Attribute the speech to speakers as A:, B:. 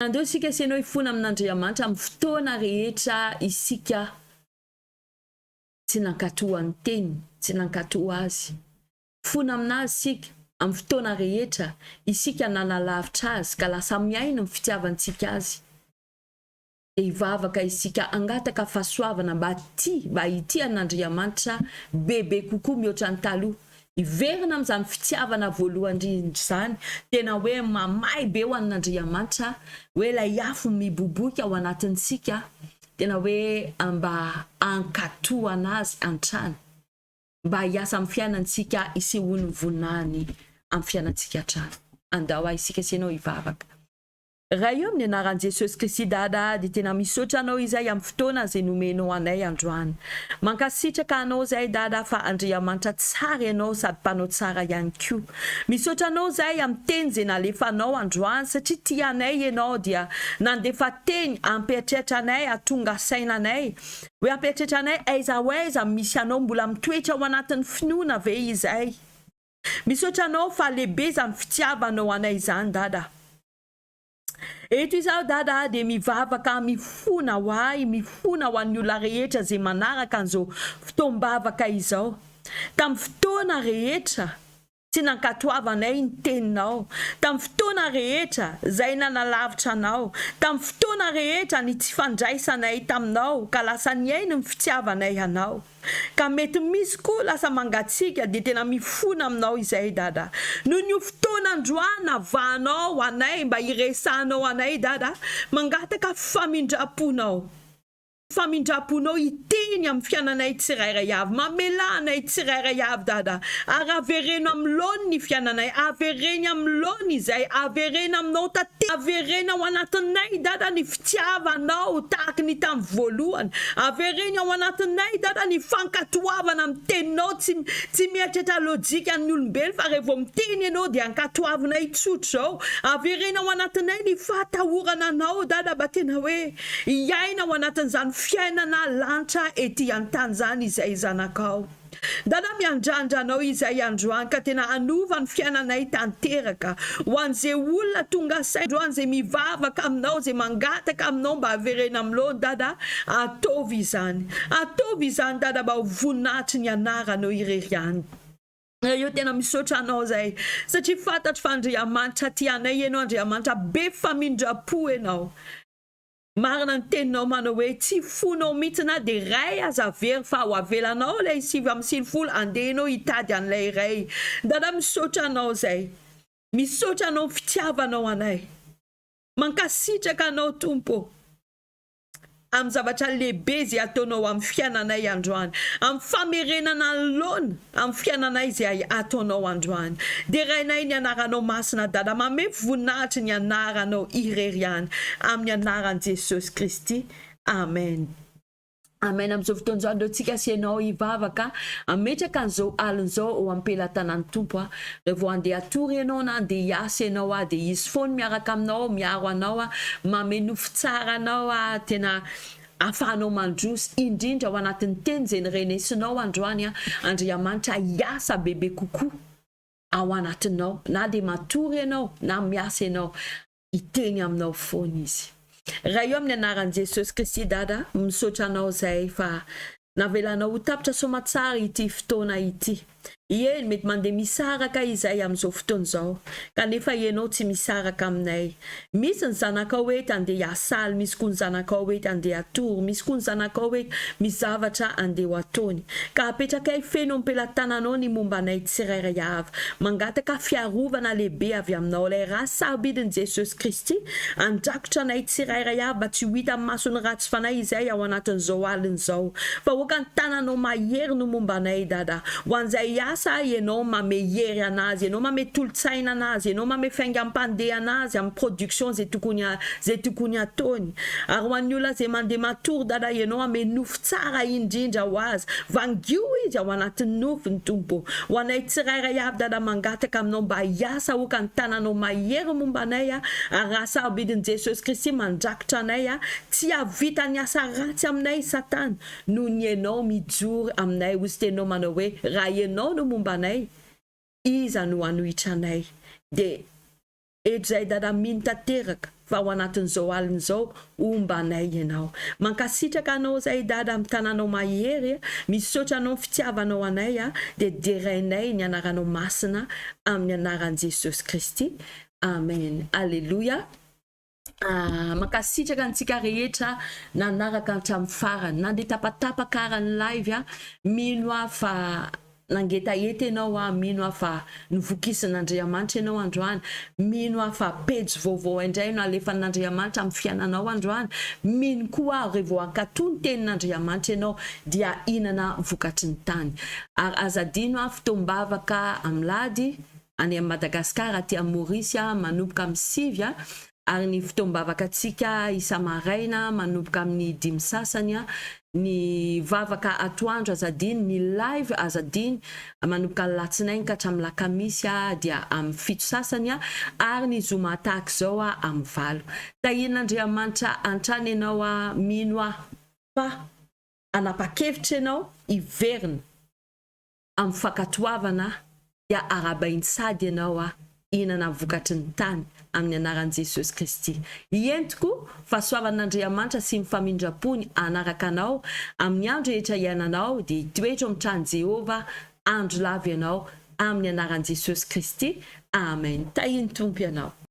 A: Andeo isika sy enao hifona amin'Andriamanitra amin'ny fotoana rehetra isika tsy nankatò an'ny Teniny, tsy nankatò Azy. Hifona amin'Azy isika amin'ny fotoana rehetra isika nanalavitra Azy ka lasa mihaino ny fitiavantsika Azy. Dia hivavaka isika hangataka fahasoavana mba hatia, mba hitia an'Andriamanitra bebe kokoa mihoatra ny taloha, Hiverina amin'izany fitiavana voalohany indrindra izany, tena hoe mamay be ho an'Andriamanitra, hoe ilay afo miboiboika ao anatintsika, tena hoe mba hankatohana azy hatrany, mba hiasa amin'ny fiainantsika, hisehoan'ny voninahiny amin'ny fiainantsika hatrany. Andao aho isika sy ianao hivavaka. Ray io amin'ny anaran'i Jesosy Kristy daddy tena misaotra anao izay amin'ny fotoana izay nomenao anay androany. Mankasitraka anao izay dada fa Andriamanitra tsara ianao sady mpanao tsara ihany koa. Misaotra anao izay amin'ny teny izay nalefanao androany satria tia anay ianao dia nandefa teny hampiatratra anay hatonga saina anay hoe hampiatratra anay aiza ho aiza misy anao mbola mitoetra ao anatin'ny finoana ve izay Misaotra anao fa lehibe izany fitiavanao anay izany Dada. Eto izaho Dada dia mivavaka mifona ho ahy, mifona ho an'ny olona rehetra izay manaraka an'izao fotoam-bavaka izao. Tamin'ny fotoana rehetra tsy nankatoavanay ny teninao, tamin'ny fotoana rehetra izay nanalavitra anao, tamin'ny fotoana rehetra ny tsy fandraisanay taminao ka lasa nihaino ny fitiavanay anao. Ka mety misy koa lasa mangatsiaka dia tena mifona aminao izay Dada. Noho ny io fotoana androany navahanao ho anay mba hiresahanao anay Dada, mangataka famindram-ponao. Famindram-ponao hiteny amin'ny fiananay tsirairay avy. Mamelà anay tsirairay avy Dada, ary avereno amin'ny laoniny ny fiananay, avereno amin'ny laoniny izay, avereno aminao tanteraka, avereno ao anatinay Dada ny. Tsy havanao tahaka ny tamin'ny voalohany. Avereno ao anatinay, Dada, ny fankatoavana amin'ny Teninao. Tsy, tsy mieritreritra lojikan'ny olombelo, fa rehefa vao miteny Ianao, dia ankatoavinay tsotra izao. Avereno ao anatinay ny fahatahorana Anao, Dada, mba tena hoe hiaina ao anatin'izany fiainana lanitra ety an-tany izany izahay, zanakao. Dada miandrandra anao izay androany ka tena hanova ny fiainanay tanteraka ho an'ze olona tonga saina androany ze mivavaka aminao ze mangataka aminao mba avereno amin'ny loany dada ataovy izany ataovy izany dada mba ho voninahitry ny anaranao irery ihany eo tena misaotra anao zay satria fantatro fa Andriamanitra tia anay ianao Andriamanitra be famindra-po ianao. Marina ny teninao manao hoe tsy fonao mitsy na de iray aza averiny fa ho avelanao ilay sivy amby sivifolo andeha enao hitady an'ilay iray dada misaotra anao zay misaotra anao fitiavanao anay mankasitraka anao tompo am zavatra lehibe ze ataonao am fiainanay androany am famerenana ny laona Amin'ny fiainanay izay ataonao androany. Derainay ny anaranao masina Dada manome voninahitry ny anaranao irery ihany amin'ny anaran'i Jesosy Kristy Amen. Amen amin'izao fotoana izao aleo tsika sy ianao hivavaka hametraka an'izao alina izao eo ampelatanan'ny Tompo a raha vao andeha hatory ianao na andeha hiasa ianao a dia izy foana miaraka aminao miaro anao a manome nofy tsara anao a tena Afahanao mandroso, indrindra ao anatin'ny teny izay nirenesinao androany aho, Andriamanitra hiasa bebe kokoa ao anatinao, na dia matory ianao na miasa ianao, hiteny aminao foana Izy. Ray ô amin'ny anaran'i Jesosy Kristy Dada, misaotra anao izay fa Navelana ho tapitra soamatsara ity fotoana ity. Eny, mety mandeha misaraka izay amin'izao fotoana izao, kanefa ianao tsy misaraka aminay. Misy ny zanakao eto, andeha hiasaly, misy koa ny zanakao eto, andeha hatory, misy koa ny zanakao eto, misy zavatra andeha ho ataony. Ka apetrakay feno am-pelatananao ny momba anay tsirairay avy. Mangataka fiarovana lehibe avy aminao, ilay Ra sarobidin'i Jesosy Kristy, handrakotra anay tsirairay avy mba tsy ho hitan'ny mason'ny ratsy. Tsy fanahy izay ao anatin'izao alina izao. Vahoaka ny tananao mahery no momba anay Dada. Ho an'izay asa ahy ianao mame hery anazy, ianao mame tolotsaina anazy, ianao mame faingam-pandeha anazy amin'ny production izay tokony izay tokony ataony. Ary ho an'ny olona izay mandeha matory Dada ianao ame nofo tsara indrindra ho azy. Vangio izy ao anatin'ny nofony Tompo. Ho anay tsirairay avy Dada mangataka aminao mba hiasa aoka ny tananao mahery momba anay ary raha sarobidin'i Jesosy Kristy mandra. Tranay a, tsy hahavita ny asa ratsy aminay Satana noho ny enao mijoro aminay ho stenao manao hoe raha enao no momba anay iza no hanohitra anay de eto zay dada mino tanteraka fa ho anatin'izao alina izao homba anay enao mankasitraka anao zay dada am tananao mahery a misaotra anao am fitiavanao anay a de derainay ny anaranao masina amin'ny anaran'i Jesosy Kristy Amen Aleloia. Mankasitraka antsika rehetra nanaraka hatramin'ny farany. Nandeha tapatapaka ara ny live a! Mino aho fa nangetaheta ianao a! Mino aho fa novokisin'Andriamanitra ianao androany. Mino aho fa pejy vaovao indray no alefan'Andriamanitra amin'ny fiainanao androany. Mino koa aho re vao hankatò ny tenin'Andriamanitra ianao dia hahinana vokatry ny tany. Ary aza adino a! Fotoam-bavaka amin'lady. any amin'i Madagascar aty amin'ny Maurice manomboka amin'ny sivy ary ny fotoam-bavakantsika isa-maraina manomboka amin'ny dimy sasany ny vavaka atoandro aza adino ny live aza adino manomboka ny latsinainy ka hatramin'ny lakamisy dia amin'ny fito sasany ary ny zoma tahaka izao amin'ny valo tahian'Andriamanitra hatrany ianao mino aho fa hanapa-kevitra ianao hiverina amin'ny fankatoavana aho dia arahabain'i Sady ianao aho hihinana vokatry ny tany amin'ny anaran'i Jesosy Kristy. Hiento koa fahasoavan'Andriamanitra sy ny famindram-pony hanaraka anao amin'ny andro rehetra iainanao dia hitoetra ao amin'ny tranon'i Jehovah andro lava ianao amin'ny anaran'i Jesosy Kristy. Amen. Tahian'ny Tompo ianao.